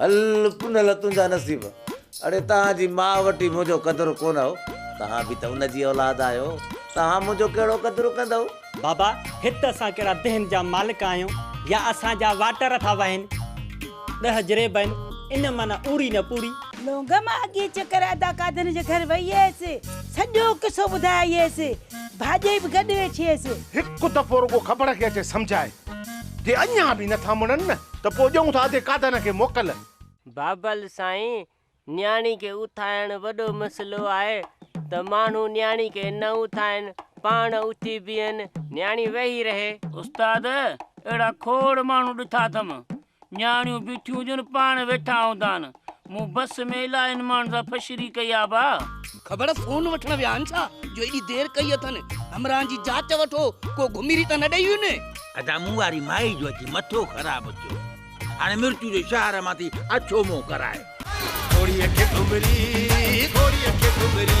هل پنهل تنهنجا نصيب. اڙي توهان جي ماء وٽ ئي منهنجو قدر ڪونه هو. توهان به ته ان جي اولاد آهيو. توهان منهنجو ڪهڙو قدر ڪندؤ؟ بابا، هت اسان ڪهڙا دهن جا مالڪ آهيون يا اسان جا واٽر ٿا وهين. ڏهه جريب آهن، ان مان نه اوري نه پوري. لونگ، مان اڳيئي چڪر ادا قادرن جي گهر وئي هيس. سڄو قصو ٻڌايائينس. ڀاڄي به گڏ وڇيس. هڪ دفعو رڳو کبڙ کي اچي سمجهائي. جي اڃا به نٿا مڙن نه ته پوء ڏيون ٿا ادي قادانه کي موڪل. بابل سائين، نياڻي کي اٿائڻ وڏو مسئلو آهي ته ماڻهو نياڻي کي نه اٿائين، پاڻ اٿي بيهن، نياڻي ويهي رهي. استاد، اهڙا کوڙ ماڻهو ڏٺا اٿم، نياڻيون بيٺيون هجن پاڻ ويٺا هوندا آهن مون بس ۾ الائين ماڻهن سان فشري ڪئي آ ڀا. خبر فون وٺڻ ويا آهن ڇا جو ايڏي دير ڪئي اٿن همراهن جي جاچ وٺو ڪو گهميري ته نه ڏئي وڃي. ادا مون واري مائي جو اچي مٿو خراب ٿيو هاڻي مرچو جو شهر مان ٿي اڇو منهن ڪرائي. گهوڙيء کي گهمري گهوڙيء کي گهمري.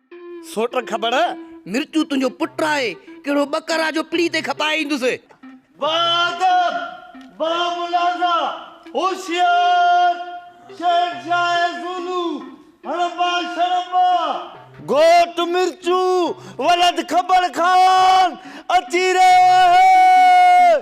سوٽ کٻڙ، مرچو تنهنجو پٽ آهي، ڪهڙو ٻڪر آ جو پڙي تي کپائي ايندس. با ادب، با ملاحظه، هوشيار شهنشاهه زولو، هڙٻا شڙٻا! گهوٽ مرچو، ولد کٻڙ خان اچي رهيو آهي.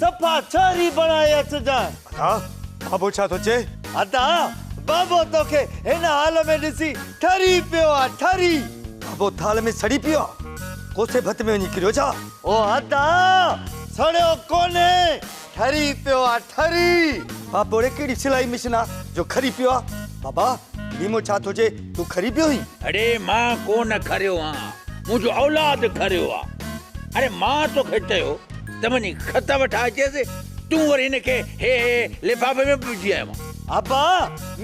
صفا ڇوري بڻائي اچجان. ادا بابو ڇا ٿو چئي؟ ادا بابو توکي هن حال ۾ ڏسي ٺري پيو آ ٺري. بابو ٿالهه ۾ سڙي پيو آ ڪوسي ڀت ۾ وڃي ڪريو ڇا؟ او ادا سڙيو ڪونهي ٺري پيو آ ٺري. بابوڙي ڪهڙي سلائي مشين آ جو کري پيو آ. بابا نيمو ڇا ٿو چئي تون کري پيو هين. اڙي مان ڪونه کريو آ منهنجو اولاد کريو آ. اڙي مان توکي چيو ته وڃي خط وٺا اچيس، تون وري هن کي هي هي لفافي ۾ به وجهي آيو آن. ابا!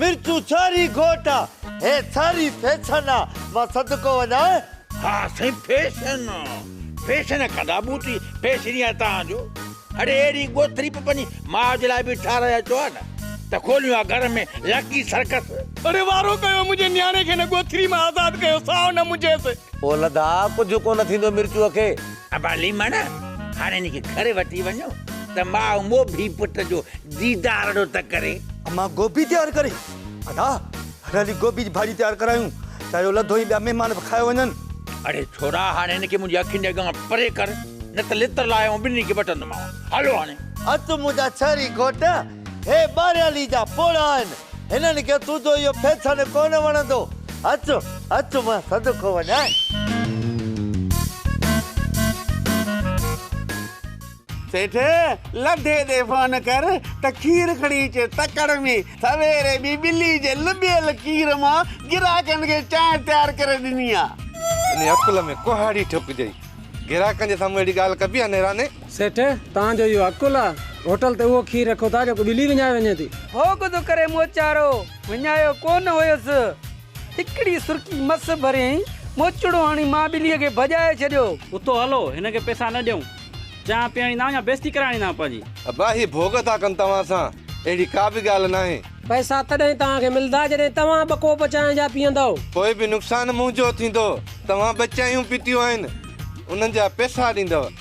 مرچون ڇاري گهوٽ آن، هي ساري فيشن آن، مان صدقو وڃان؟ ها سائين فيشن آن، فيشن ڪندا بوٽي، فيشن ئي آهي توهان جو. اڙي اهڙي ڳوٿري به پنهنجي ماء جي لاء به ٺهرائي اچو ها نه، ته کوليون ها گهر ۾ لڪي سرڪس. اڙي وارو ڪيو، منهنجي نياڻي کي هن ڳوٿري مان آزاد ڪيو، سائو نه منجهيس. اولڌا ڪجهه ڪونه ٿيندو مرچوء کي، ابا ليمڻ هاڻي هن کي گهر وٺي وڃو ته ماء موڀي پٽ جو ديدارڙو ته ڪري. امان گوڀي تيار ڪري. ادا هل هلي گوڀي جي ڀاڄي تيار ڪرايون ته اهو لڌو هي ٻيا مهمان به کائي وڃن. اڙي ڇورا هاڻي هن کي منهنجي اکين جي اڳيان پري ڪر نه ته لتر لاهي آئون ٻنهي کي وٽندومانو. هلو هاڻي. اچ منهنجا شهري گهوٽ. هي ٻاريالي جا پوڙها آهن، هنن کي تنهنجو اهو فيشن ڪونه وڻندو. اچ، اچ مان صدقو وڃان. سيٺ، لڍي تي فون ڪر ته کير کڻي اچي تڪڙ ۾. سويري به ٻلي جي لٻيل کير مان گراهڪن کي چانهه تيار ڪري ڏني آ. انهيء عقل ۾ ڪهاڙي ٺوڪجئي. گراهڪن جي سامهون اهڙي ڳالهه ڪبي آ نيراني؟ سيٺ، توهان جو اهو عقل آ؟ هوٽل تي اهو کير رکو ٿا جيڪو ٻلي وڃائي وڃي ٿي. ڀوڳ ٿو ڪري موچارو، وڃايو ڪو نه هيس. هڪڙي سرڪي مس ڀريائين، موچڙو هڻي مان ٻليء کي ڀڄائي ڇڏيو. اتو هلو، هن کي پئسا نه ڏيئون. چانهه پيئڻي ناهه يا بيستي ڪرائڻي ناهه پنهنجي. ابا هي ڀوڳ ٿا ڪن توهان سان، اهڙي ڪا به ڳالهه ناهي. پئسا تڏهن توهان کي ملدا جڏهن توهان ٻه ڪوپ چانهه جا پيئندؤ. پوء به نقصان منهنجو ٿيندو، توهان ٻه چانهيون پيتيون آهن، انهن جا پئسا ڏيندؤ.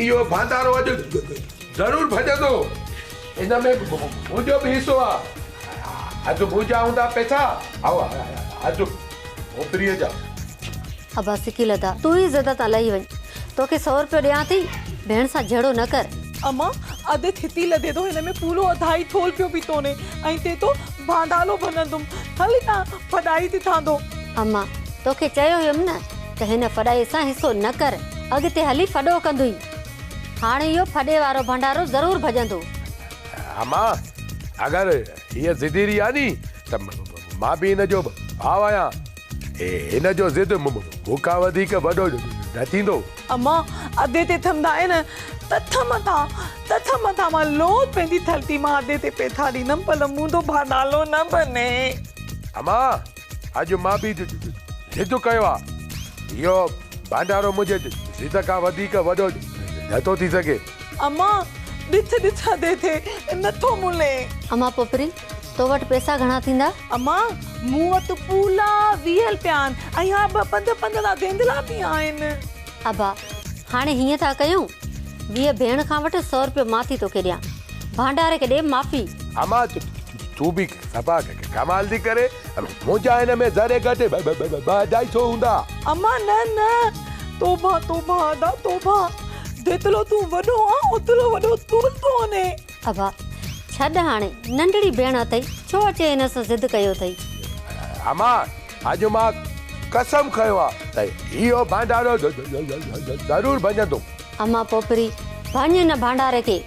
اهو ڀانڊارو اڄ ضرور ڀڄندو. ان ۾ منهنجو به حصو آ. اڄ منهنجا هوندا پئسا هائو اڄ اوپريء جا. ابا سڪي لڌا. تون ئي زده تان لهي وڃ. توکي سئو روپيو ڏيان ٿي. ڀيڻ سان جهيڙو نه ڪر. اما اڌ ٿتي لڌي ٿو هن ۾ پورو اڌائي ٿولهه پيو پيتو ني ۽ تي تو ڀانڊالو ڀڃندم هل هتان ڦڏائي ٿي ٿاندو. اما توکي چيو هيم نه. ته هن ڦڏائي سان حصو نه ڪر، اڳتي هلي ڦڏو ڪندوئي. هاڻ اهو ڦڏي وارو ڀنڊارو ضرور ڀڄندو. اما، اگر هيء ضدي رهي ها ني ته مان به هن جو ڀاء آهيان. هن جو ضد مون کان وڌيڪ وڏو نه ٿيندو. اما، ادي تي ٿمندا آهن ته ٿم ٿا، ته ٿم ٿا. مان لوٿ پنهنجي ٿلتي مان ادي تي پيٿا ڏيندم، پر منهنجو ڀاء نالو نه ڀني. اما، اڄ مان به ضد ڪيو آ. اهو ڀانڊارو منهنجي ضد کان وڌيڪ وڏو نٿو ٿي سگهي. اما ڏٿ ڏٿا تي ٿي نٿو ملين. اما پوپري تو وٽ پئسا گهڻا ٿيندا؟ اما مون وٽ پولا ويهه رپيا آهن ۽ اها ٻه پنج پنج لا ڌينڌلا به آهن. ابا هاڻي هيئن ٿا ڪيون ويهه ڀيڻ کان وٺ سؤ رپيو مان ٿي توکي ڏيان. ڀانڊاري کي ڏي معافي. اما تون به صفا ڪمال ٿي ڪرين منهنجا هن ۾ ذري گهٽ ٻه اڍائي سو هوندا. اما نه نه توبه توبه ادا توبه جيتلو تون وڏو آن اوتلو وڏو تون ڪونهي. ابا ڇڏ هاڻي ننڍڙي ڀيڻ اٿئي ڇو اچي هن سان ضد ڪيو اٿئي. اما اڄ مان قسم کنيو آ ته اهو ڀانڊارو ضرور ڀڃندوم. اما پوپري ڀڃ هن ڀانڊاري کي.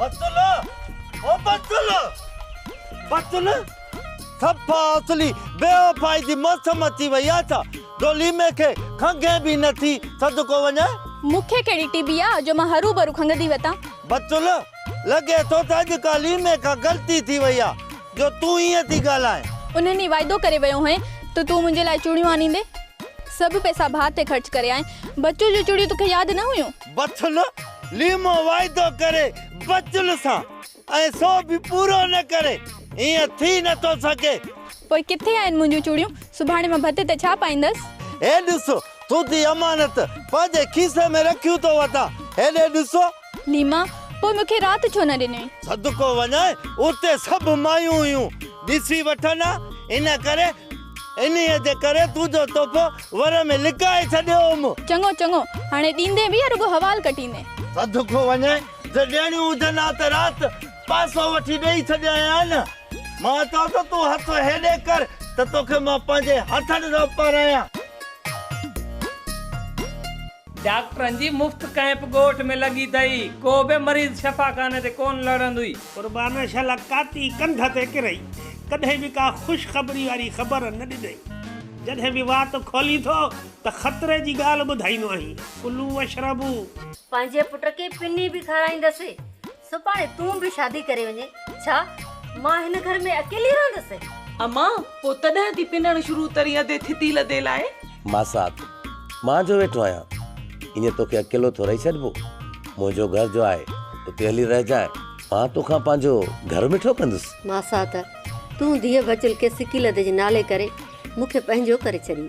بتل او بتل بتل سپا اصلي بيوفائي جي موسم اچي وئي آ ڇا دوليمي کي کنگهي به نه ٿي صدقو وڃاء. مون کي ڪهڙي ٽي بي آ جو مان هروڀرو کنگهندي وتان. بتل لڳي ٿو ته اڄ ڪا ليمي کان غلطي ٿي وئي آ. جو تون ائين ٿي ڳالهائين. انهن ئي واعدو ڪري ويو هئين ته تون منهنجي لاء چوڙيون آڻيندين. سڀ پئسا ڀاء تي خرچ ڪري آئين. بچو جون چوڙيون توکي ياد نه هيون. بچل، ليمو واعدو ڪري بچل سان ۽ سو به پورو نه ڪري. ائين ٿي نه ٿو سگهي. پوء ڪٿي آهن منهنجون چوڙيون؟ سڀاڻي مان ڀت تي ڇا پائيندس؟ هي ڏسو، تون ٿي امانت پنهنجي کيسي ۾ رکيون ٿو وتان. هيڏي ڏسو. ليما، پوء مون کي رات ڇو نه ڏنئي؟ صدقو وڃان، اتي سڀ مايون هيون، ڏسي وٺن ها، ان ڪري، انهيء جي ڪري تنهنجو تحفو ور ۾ لڪائي ڇڏيو هوم. چڱو، چڱو، هاڻي ڏيندين به يا رڳو حوال ڪٽيندين؟ صدقو وڃان، جي ڏيڻيون هجن ها ته رات پاسو وٺي ڏيئي ڇڏيان ها نه؟ مان چوان ٿو تون هٿ هيڏي ڪر ته توکي مان پنهنجي هٿن سان پرايان. ڊاڪٽرن جي مفت ڪئمپ ڳوٺ ۾ لڳي ٿئي، ڪو به مريض شفاخاني تي ڪونه لڙهندو ئي. قربان شل ڪاتي ڪنڌ تي ڪرئي، ڪڏهن به ڪا خوشخبري واري خبر نه ڏنئي. جڏهن به وات کولين ٿو ته خطري جي ڳالهه ٻڌائيندو آهين، ڪلو واشربو. پنهنجي پٽ کي پني به کارائيندس. سڀاڻي تون به شادي ڪري وڃي ڇا؟ مان هن گهر ۾ اڪيلي رهندس. امان، پوء تڏهن ٿي پنڻ شروع ترين ادي ٿتي لڌي لائي. ماسات، مان جو ويٺو آهيان ايئن توکي اڪيلو ٿورئي ڇڏبو. منهنجو گهر جو آهي اتي هلي رهجانء مان توکان پنهنجو گهر مٺو ڪندس. ماسات، تون ڌيء بچل کي سڪي لڌي جي نالي ڪري مون کي پنهنجو ڪري ڇڏين.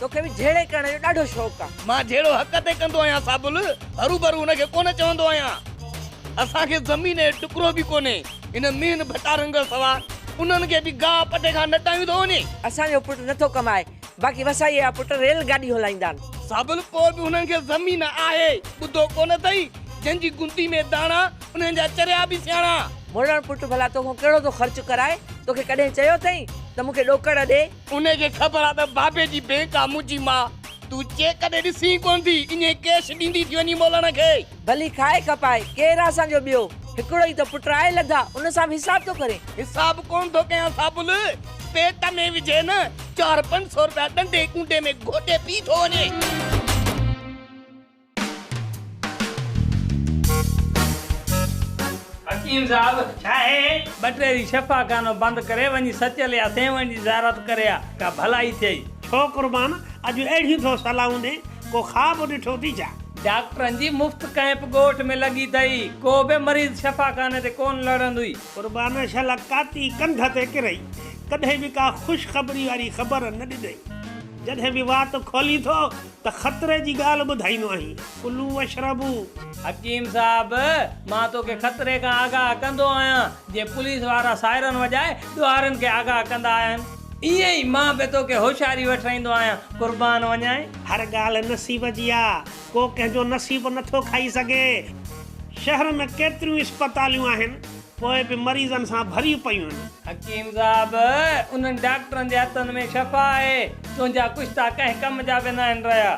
توکي به جهيڙي ڪرڻ جو ڏاڍو شوق آ. مان جهيڙو حق تي ڪندو آهيان سابل. هروڀرو ان کي ڪونه چوندو آهيان. اسان کي زمين جو ٽڪرو به ڪونهي. هن مين ڀٽا رنگل سوا انهن کي به گاهه پٽي کان نٽايون ٿو وڃي. اسان جو پٽ نه ٿو ڪمائي. باقي وسائيء جا پٽ ريل گاڏي هلائيندا آهن. سابل پوء به هنن کي زمين آهي. ٻڌو ڪونه اٿئي. جن جي گندي ۾ داڻا انهن جا چريا به سياڻا. مڙڻ پٽ ڀلا توکان ڪهڙو ٿو خرچ ڪرائي. توکي ڪڏهن چيو اٿئي ته مون کي ڏوڪڙ ڏي. انهيء کي خبر آ ته بابي جي بينڪ آ منهنجي ماء، تون چيڪ ڏي ڏسين ئي ڪونه ٿي، ائين ڪيش ڏيندي ٿي وڃين مولڻ کي. ڀلي کائي کپائي، ڪير آ اسان جو ٻيو، هڪڙو ئي ته پٽ آهي لڌا، ان سان به حساب ٿو ڪرين. حساب ڪونه ٿو ڪيان سابل، پيٽ ۾ وجهي نه، چار پنج سو روپيا ڏنڊي ڪونڊي ۾ گهوٽي پي ٿو وڃي. حڪيم صاحب ڇا هي ٻٽيري شفا خانو بند ڪري وڃي سچل يا سيوهڻ جي زيارت ڪري آ ڪا ڀلائي ٿئي. ڇو قربان اڄ اهڙيون ٿو صلاحون ڏي ڪو خواب ڏٺو ٿي ڇا. ڊاڪٽرن جي مفت ڪئمپ ڳوٺ ۾ لڳي ٿئي ڪو به مريض شفا خاني تي ڪون لڙندوئي. قربان شل ڪاتي ڪنڌ تي ڪرئي ڪڏهن به ڪا خوش خبري واري خبر نه ڏنئي جڏهن به وات کولين ٿو ته خطري جي ڳالهه ٻڌائيندو آهين. ڪلو واشربو. حڪيم صاحب مان توکي خطري کان آگاهه ڪندو آهيان جي پوليس وارا سائرن وڄائي ڏوهارين کي آگاهه ڪندا آهن ائين ئي مان به توکي هوشياري وٺرائيندو آهيان قربان وڃانء. هر ڳالهه نصيب جي آ ڪو ڪنهن جو نصيب نٿو کائي سگهي. شهر ۾ ڪيتريون ئي اسپتاليون آهن پوء به مريضن سان ڀريون پيون آهن. حڪيم صاحب! انهن ڊاڪٽرن جي هٿن ۾ شفا آهي، تنهنجا ڪشتا ڪنهن ڪم جا به ناهن رهيا.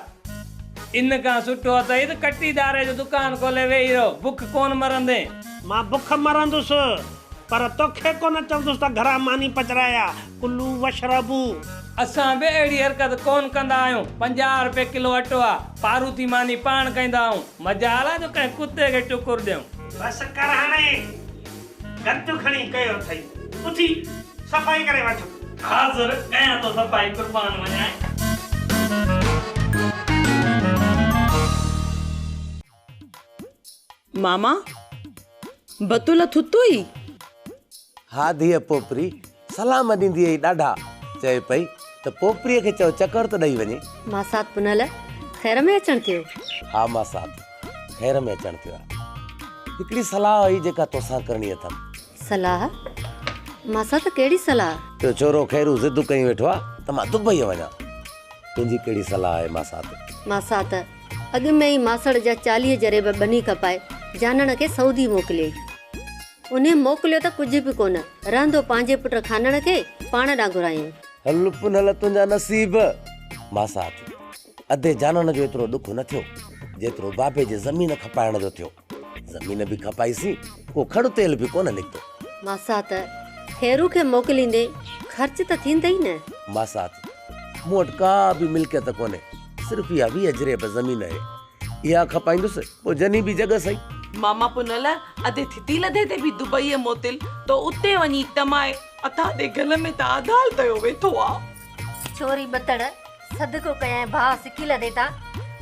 ان کان سٺو اٿئي ته ڪٽي ڌاري جو دڪان کولي ويهي رهو، بک ڪونه مرندين. مان بک مرندس، پر توکي ڪونه چوندس ته گهران ماني پچرائي آ. ڪلو واشربو. اسان به اهڙي حرڪت ڪون ڪندا آهيون. پنجاهه رپئي ڪلو اٽو آ. پاروٿي ماني پاڻ کائيندا آهيون. مجال آ جو ڪنهن ڪتي کي ٽڪر ڏيون. بس ڪر هاڻي گند کڻي ڪيو اٿئي. اٿي صفائي ڪري وٺ. حاضر ڪيان ٿو صفائي قربان وڃانء. ماما! بتول ٿتو ئي؟ ها ڌيء پوپري سلام ڏيندي ئي ڏاڍا چئي پئي ته پوپريء کي چئو چڪر ته ڏئي وڃي. ماسات پنهل خير ۾ اچڻ ٿيو؟ ها ماسات خير ۾ اچڻ ٿيو آهي. هڪڙي صلاح هئي جيڪا توسان ڪرڻي اٿم. صلاح؟ مان سان ته ڪهڙي صلاح؟ تنهنجو ڇورو خيرو ضدون ڪيون ويٺو آ ته مان دبئيء وڃان. تنهنجي ڪهڙي صلاح آهي ماسات؟ ماسات اڳ ۾ ئي ماسڙ جا چاليهه جريب ٻني کپائي جانڻ کي سعودي موڪليائين. انهيء موڪليو ته ڪجهه به ڪونه، رهندو پنهنجي پٽ خانڻ کي پاڻ ڏانهن گهرايائين. هل پنهل تنهنجا نصيب. ماسات ادي جانڻ جو ايترو ڏک نه ٿيو، جيترو بابي جي زمين کپائڻ جو ٿيو. زمين به کپائي سي ڪو کڙ تيل به ڪونه نڪتو. ماسات خيرو کي موڪليندي خرچ ته ٿيندئي نه. ماسات مون وٽ ڪا به ملڪيت ڪونهي صرف اها ويهه جريب زمين اهي اها کپائيندس پوء جني به جڳ سهي. ماما پنل اڌي ٿتي لڌي تي به دبئي موتل تو اتي وڃي ٽمائي اٿا تي گل ۾ ته آڌال تيو ويٺو آ. ڇوري ٻتڙ صدقو ڪيائين ڀاء سڪي لڏي تان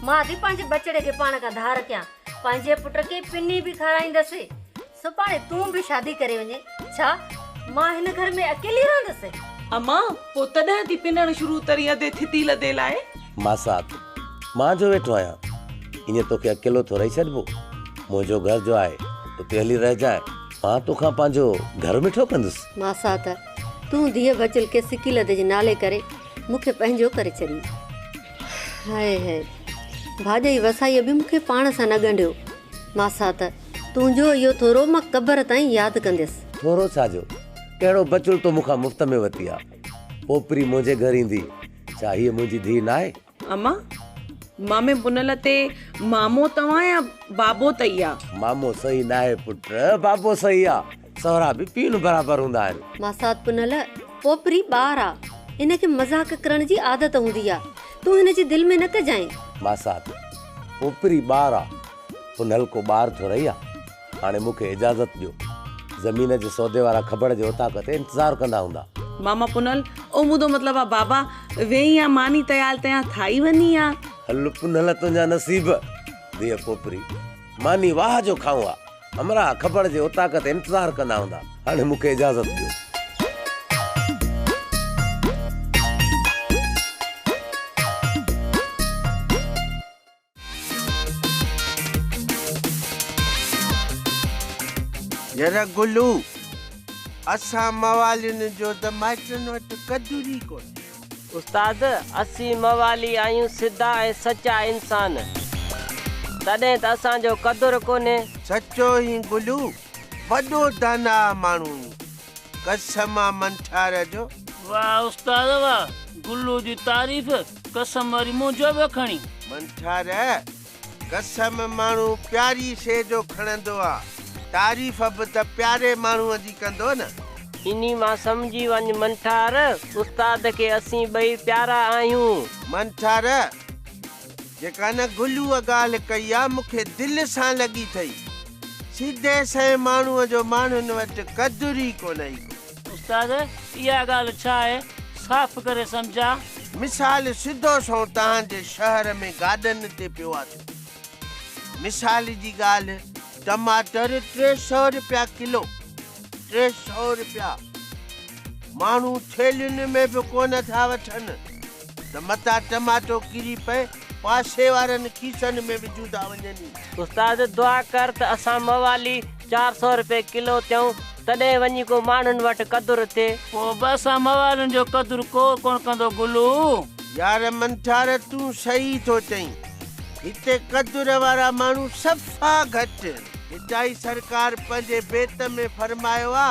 مان ٿي پنهنجي ٻچڙي کي پاڻ کان ڌار ڪيان پنهنجي پٽ کي پني به کارائيندس سڀاڻي تون به شادي ڪري وڃي ڇا مان هن گهر ۾ اڪيلي رهندس. اما پوء تڏهن ٿي پنڻ شروع تري ادي ٿتي لڏي لاء. ماسات مان جو ويٺو آهيان ايئن توکي اڪيلو ٿورئي ڇڏبو منهنجو گهر جو آهي اتي هلي رهجانء مان توکان پنهنجو گهر مٺو ڪندس. ماسات تون ڌيء بچل کي سڪي لڏي جي نالي ڪري مون کي پنهنجو ڪري ڇڏيو. هاء هاء ڀاڄئي وسائيء به مون کي پاڻ سان نه ڳنڍيو. ماسات، تنهنجو اهو ٿورو مان قبر تائين ياد ڪنديس. ٿورو ڇا جو؟ ڪهڙو بچڙ تو مون کان مفت ۾ وتي آ. پوپري منهنجي گهر ايندي. ڇا هيء منهنجي ڌيء ناهي؟ امان، مامي بنل تي مامو توهان يا بابو تئي آ؟ مامو صحيح ناهي پٽ، بابو صحيح آ. سهرا به پينهن برابر هوندا آهن. ماسات پنهل پوپري ٻار آ هن کي مذاق ڪرڻ جي عادت هوندي آ تون هن جي دل ۾ نه ڪجانء. ماسات پوپري ٻار آ پنهل ڪو ٻار ٿورئي آ هاڻي مون کي اجازت ڏيو زمين جي سودي وارا کبڙ جي اوطاق تي انتظار ڪندا هوندا. ماما پنهل او مون دو مطلب آ بابا ويهين آ ماني تيال تيان ٿائي وني آ. هل پنهل تنهنجا نصيب ڌيء پوپري ماني واهه جو کائون آ. همراهه کپڙ جي اوطاق تي انتظار ڪندا هوندا. هاڻي مون کي اجازت ڏيو. ير گلو! اسان موالين جو ته مائٽن وٽ قدر ئي ڪونهي. استاد اسين موالي آهيون سڌا ۽ سچا انسان تڏهن ته اسان جو قدر ڪونهي. سچو هين بلو وڏو داناء ماڻهو هين قسم آ منٺار جو. واه استاد واه گلو جي تعريف قسم واري منهنجو به کڻي. منٺار قسم ماڻهو پياري شيء جو کڻندو آ، تعريف به ته پياري ماڻهوء جي ڪندو نه. انهي مان سمجهي وڃ منٺار، استاد کي اسين ٻئي پيارا آهيون. منٺار، جيڪا نه گلوء ڳالهه ڪئي آ، مون کي دل سان لڳي ٿئي. سيڌي سنئين ماڻهوء جو ماڻهن وٽ قدر ئي ڪونه ايندو. استاد اها ڳالهه ڇا آهي صاف ڪري سمجهاء. مثال سڌو سنئون توهان جي شهر ۾ گاڏن تي پيو آٿو. مثال جي ڳالهه ٽماٽر ٽي سئو رپيا ڪلو. ٽي سئو رپيا. ماڻهو ٿيلهين ۾ به ڪونه ٿا وٺن. ته متان ٽماٽو ڪري پئي، پاسي وارن کيسن ۾ به جودا وڃن ئي. استاد دعا ڪر ته اسان موالي چار سؤ رپئي ڪلو ٿيون، تڏهن وڃي ڪو ماڻهن وٽ قدر ٿئي. پوء به اسان موالين جو قدر ڪو ڪونه ڪندو گلو. يار منٺار تون صحيح ٿو چئين. هتي قدر وارا ماڻهو صفا گهٽ آهن. هتائين سرڪار پنهنجي بيت ۾ فرمايو آ.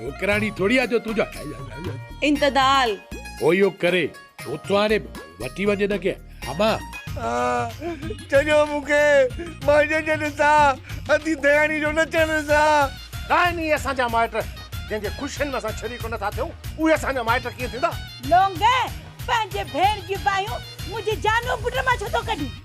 وڪراڻي ٿوري آ جو تنهنجو هاء هاء هاء هاء. انتدال. هو اهو ڪري اوچتو آڻي وٺي وڃ هن کي هٻا. آ ڇڏيو مون کي مائٽن جا ڏسا ادي دياڻي جو نچڻ ڏسا. ڏاهني اسان جا مائٽ جنهن جي خوشين ۾ اسان شريڪ نه ٿا ٿيون اهي اسان جا مائٽ ڪيئن ٿيندا. لونگي پنهنجي ڀيڻ جون باهيون منهنجي جانو پٽ مان ڇو ٿو ڪڍين.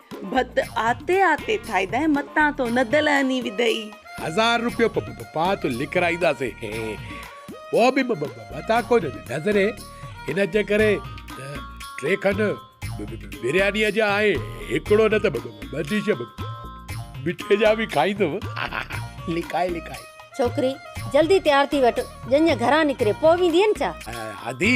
ڀت آتي آتي ٿائيدائين متان تو ندل هني وڌئي. هزار روپيو پ پ پا تو لکرائينداسين هي پوء به م م متان ڪو نظري هن جي ڪري ٽي کن بريانيء جا ۽ هڪڙو نه ته ٻه ٻه ڊش مٺي جا به کائيندم لکائي لکائي. ڇوڪري، جلدي تيار ٿي وٺ ڄڃ گهران نڪري پوء ويندين ڇا؟ هادي،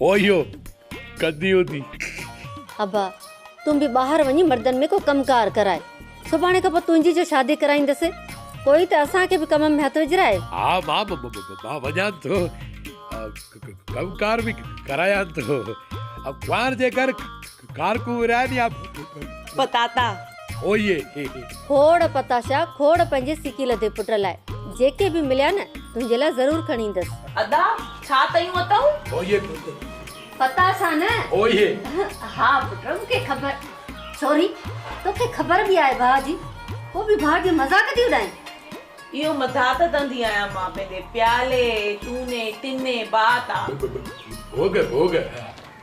اوهيو ڪندي هوندي. ابا تون به ٻاهر وڃي مردن ۾ ڪو ڪم ڪار ڪراء. سڀاڻي کان پوء تنهنجي جو شادي ڪرائيندس. پوء ته اسان کي به ڪم ۾ هٿ وجهراء. ها ماء مان وڃان ٿو ڪم ڪار به ڪرايان ٿو. ڪنوار جي گهر گارڪون ورهائين يا پتاتا. هوئي هي. کوڙ پتاشا کوڙ پنهنجي سڪي لڌي پٽ لاء جيڪي به مليا نه تنهنجي لاء ضرور کڻي ايندس. ادا ڇا تيون اٿئون. هوئي پٽ. پتاشا نه. هوئي هي. ها پٽ مون کي خبر. سوري توکي خبر به آهي ڀاء جي پوء به ڀاء جي مذاق ٿي اڏائين. اهو مذاق ڪندي آهيان مان پنهنجي پيالي تون ني تن ني بات آ. ڀوڳ ڀوڳ.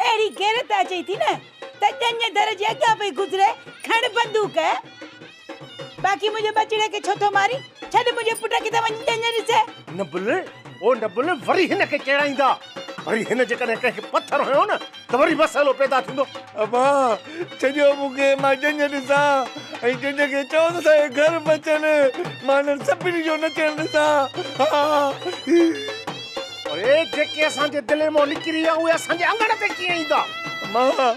اهڙي غيرت اچئي ٿي نه ته ڄڃ در جي اڳيان پئي گذري کڻ بندوق. باقي منهنجي ٻچڙي کي ڇو ٿو مارين؟ ڇڏ منهنجي پٽ کي ته وڃي ڄڃ ڏسي. نه بل او نه بل وري هن کي چيڙائيندا. وري هن جيڪڏهن ڪنهن کي پٿر هنيو نه ته وري مسئلو پيدا ٿيندو. ابا ڇڏيو مون کي مان ڄڃ ڏسان ۽ ڄڃ کي چئو ته سائين گهر به اچن مان انهن سڀني جو نچڻ ڏسان ها. اڙي جيڪي اسان جي دلين مان نڪري ويا اهي اسان جي اڱڻ تي ڪيئن ايندا. امان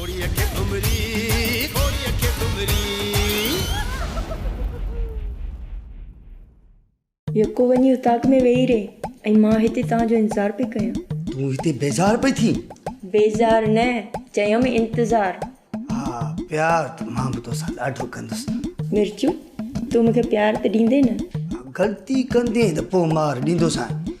ڪوڙي اکي ڀمري ڪوڙي اکي ڀمري. يڪو وڃي اتاق ۾ ويهي رهي ۽ مان هتي توهان جو انتظار پئي ڪيان. تون هتي بيزار پئي ٿين؟ بيزار نه چيم انتظار. ها پيار ته مان به توسان ڏاڍو ڪندس. مرچو تون مون کي پيار ته ڏيندين نه؟ غلطي ڪندين ته پوء مار ڏيندوسانء.